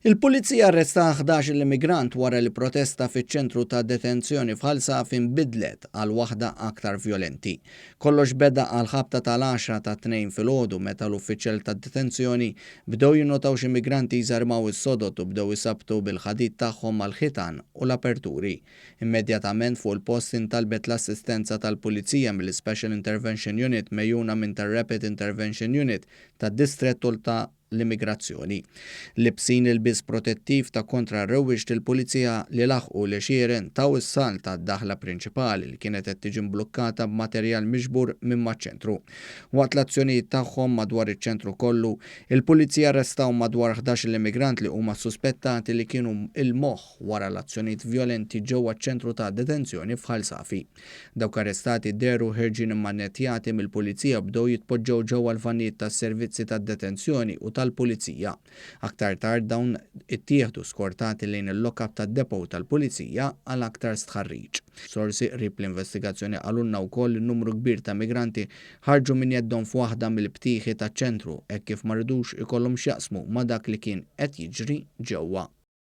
Il-Pulizija arresta ħdax-il immigrant wara li protesta fiċ-ċentru ta' detenzjoni f'Ħal Safi nbidlet għal waħda aktar vjolenti. Kollox beda għall-ħabta tal-għaxra tat-Tnejn filgħodu meta l-uffiċjali tad-detenzjoni bdew jinnotaw xi migranti jżarmaw is-sodod u bdew isabbtu bil-ħadid tagħhom mal-ħitan u l-aperturi. Immedjatament fuq il-post intalbet l-assistenza tal-Pulizija mill-Special Intervention Unit megħjuna minn tar-Rapid Intervention Unit tad-Distrett Għoli ta' l-Immigrazzjoni. Liebsin ilbies protettiv ta' kontra r-rewwixti l-Pulizija li laħqu l-għexieren taw is-salt għad-daħla prinċipali li kienet qed tiġi mblukkata b'materjal miġbur minn maċ-ċentru. Waqt l-azzjonijiet tagħhom madwar iċ-ċentru kollu, il-Pulizija arrestaw madwar ħdax-il immigrant li huma ssuspettati li kienu il-moħħ wara l-azzjonijiet vjolenti ġewwa ċ-ċentru ta' detenzjoni f'Ħal Safi. Dawk arrestati dehru ħerġin immannettjati mill-Pulizija u bdew jitpoġġew ġewwa l-vannijiet tas-servizzi tad-detenzjoni u tal-Pulizija. Aktar tard dawn ittieħdu skortati lejn il-lock-up tad-depot tal-Pulizija għal aktar stħarriġ. Sorsi qrib l-investigazzjoni qalulna wkoll li numru kbir ta' migranti ħarġu minn jeddhom f'waħda mill-btieħi taċ-ċentru hekk kif ma ridux ikollhom x'jaqsmu ma' dak li kien qed jiġri ġewwa.